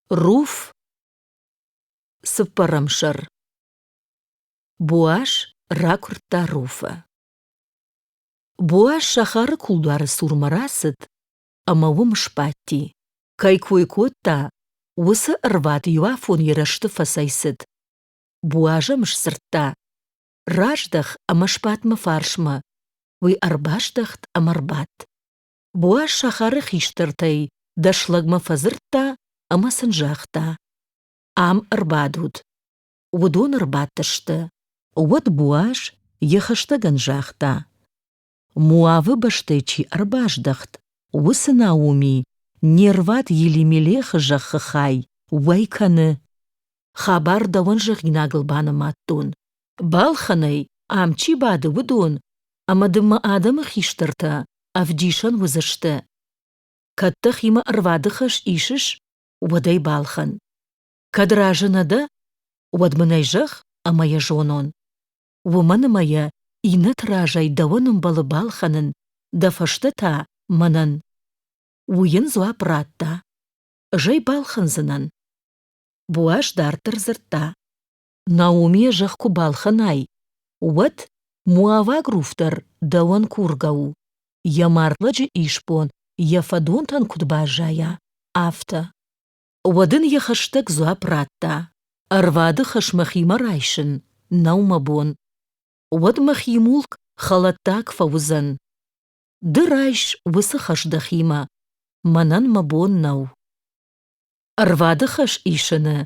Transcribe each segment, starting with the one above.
Руф цыппӕрӕм сӕр Боас ракуырдта Руфы. Боас сахары кулдуары цурмӕ рацыд ӕмӕ уым сбадти. Кӕй кой кодта, уыцы ӕрвад иуафон ерысты фӕцӕйцыд. Боаз ӕм сдзырдта: «Раздӕх ӕмӕ сбад мӕ фарсмӕ». Уый ӕрбаздӕхт ӕмӕ рбадт. Буа сахары хистӕртӕй дӕс лӕгмӕ фӕдзырдта ӕмӕ сын загъта: Ам ӕрбадут. Уыдон ӕрбадтысты. Уӕд Буаз йӕ хӕстӕгӕн загъта: Моавы бӕстӕ чи ӕрбаздӕхт, уыцы Науми не рвад Елимелехы зӕххы хай уӕй кӕны. Хабар дӕуӕн зӕгъинагыл банымадтон. Балхӕнӕй ам чи бады, уыдон, ӕмӕ ды мӕ адӕмы хистӕртӕ ӕвдисӕн уыдзысты. Кӕд дӕхимӕ ӕрвады хӕс исыс, уӕд ӕй балхӕн. Кӕд разы нӕ дӕ, уӕд мын ӕй зӕгъ ӕмӕ йӕ зонон. Уымӕн ӕмӕ йӕ иннӕты разӕй дӕуӕн ӕмбӕлы балхӕнын, дӕ фӕстӕ та мӕнӕн. Уый йын дзуапп радта. Ӕз ӕй балхӕндзынӕн. Буаз дарддӕр дзырдта. Наумийӕ зӕхх куы балхӕнай, уӕд муӕвӕг руф дӕр дӕуӕн кургӕ у, йӕ мӕрдвӕджы исбон йӕ фӕдонтӕн куыд баззайа, афтӕ. Уӕд ын йӕ хӕстӕг дзуапп радта: Ӕрвады хӕс мӕхимӕ райсын нӕу мӕ бон. Уӕд мӕхи мулк хӕлӕттаг фӕуыдзӕн. Ды райс уыцы хӕс дӕхимӕ, мӕнӕн мӕ бон нӕу. Ӕрвады хӕс исыны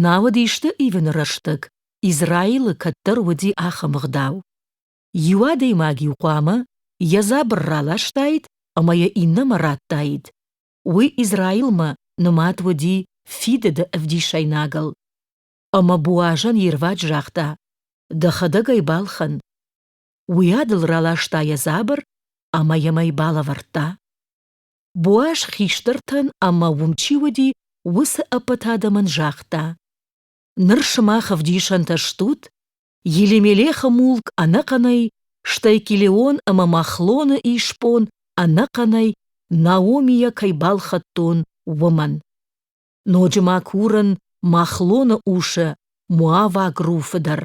науӕд исты ивыны рӕстӕг Израилы кӕддӕр уыди ахӕм ӕгъдау. Иу адӕймаг-иу хъуамӕ йӕ дзабыр раластаид ӕмӕ йӕ иннӕмӕ радтаид. Уый Израилмӕ нымад уыди фидыды ӕвдисӕйнагыл. Ӕмӕ Буазӕн йе рвад загъта: «Дӕхӕдӕг ӕй балхӕн». Уый адыл раласта йӕ дзабыр ӕмӕ йӕм ӕй балӕвӕрдта. Боаз хистӕртӕн ӕмӕ уым чи уыди, уыцы ӕппӕт адӕмӕн загъта: «Ныр сымах ӕвдисӕнтӕ стут, Елимелехы мулк ӕнӕхъӕнӕй, стӕй Килеон ӕмӕ Махлоны исбон ӕнӕхъӕнӕй Наомийӕ кӕй балхӕдтон, уымӕн». Ноджы ма курын Махлоны усы Муаваг Руфы дӕр.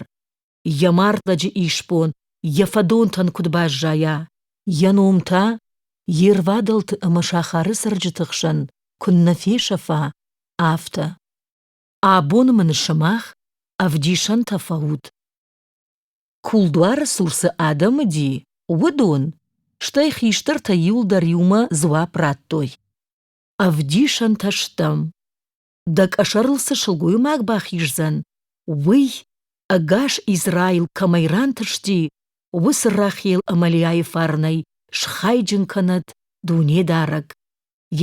Йӕ мардлӕджы исбон йӕ фӕдонтӕн куыд баззайа, йӕ ном та йе рвадӕлты ӕмӕ сахары цӕрджыты хсӕн куыннӕ фесӕфа, афтӕ. Абон мын сымах ӕвдисӕнтӕ фӕут. Кулдуары цы урсы адӕм уыди, уыдон, стӕй хистӕртӕ иуылдӕр иумӕ дзуапп радтой. Ӕвдисӕнтӕ стӕм. Дӕ къӕсӕрыл цы сылгоймаг бахиздзӕн, уый, ӕгас Израил кӕмӕй рантысти, уыцы Рахел Амалиайы фарнӕй схайджын кӕнӕд Дунедарӕг.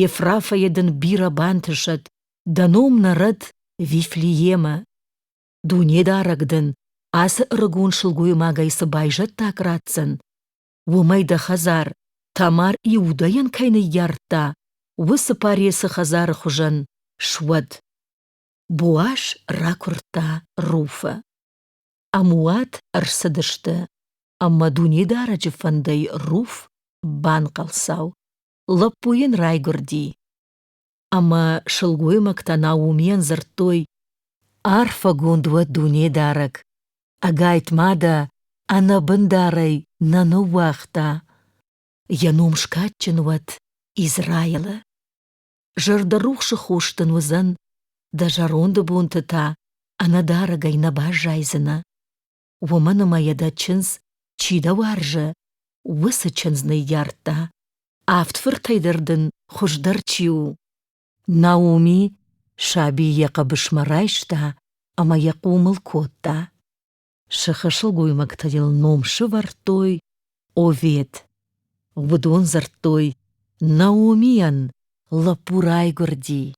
Ефрафӕйы дын бирӕ бантысӕд, дӕ ном нӕрӕд Вифлеемӕ. Дунедарӕг дын ацы ӕрыгон сылгоймагӕй цы байзӕддаг ратдзӕн, Уымӕй дӕ хӕдзар, Тамар Иудӕйӕн кӕй ныййардта, уыцы Паресы хӕдзары хуызӕн суӕд. Боас ракуырдта Руфы. Ӕмуат ӕрцыдысты, ӕмӕ Дунедарӕджы фӕндӕй Руф банхъӕлцау. Лӕппу йын райгуырди. Ӕмӕ сылгоймӕгтӕ Наумийӕн дзырдтой: «Арфӕгонд уӕ Дунедарӕг! Ӕгайтма дӕ ӕнӕбындарӕй нӕ ныууагъта. Йӕ ном скадджын уӕд Израилы. Зӕрдӕрухсы хос дын уыдзӕн, дӕ зӕронды бонты та ӕнӕдарӕгӕй нӕ баззайдзынӕ. уымӕн ӕмӕ йӕ дӕ чындз чи дӕ уарзы, уыцы чындз ныййардта. Авд фыртӕй дӕр дын хуыздӕр чи у. Науми саби йӕ хъӕбысмӕ райста ӕмӕ йӕ хъомыл кодта. Сыхы сылгоймӕгтӕ йыл ном сывӕрдтой Овед. Уыдон дзырдтой Наумийӕн лӕппу райгуырди.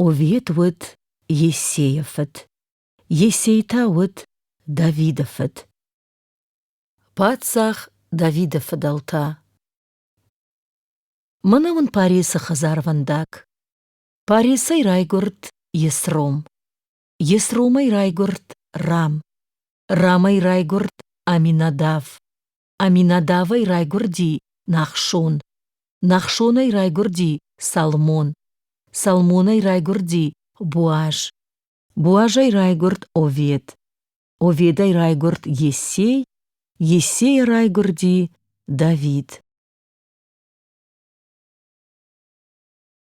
Овед уыд Есейы фыд. Йесей та уыд Давиды фыд. Паддзах Давиды фыдӕлтӕ Мӕнӕ уын Паресы хӕдзарвӕндаг. Паресӕй райгуырд Есром. Есромӕй райгуырд Рам. Рамӕй райгуырд Аминадав. Аминадавӕй райгуырди Нахшон. Нахшонӕй райгуырди Салмон. Салмонӕй райгуырди Буаз. Буазӕй райгурд Овед. Оведӕй райгурд Ессей, Ессейӕ райгурди Давид.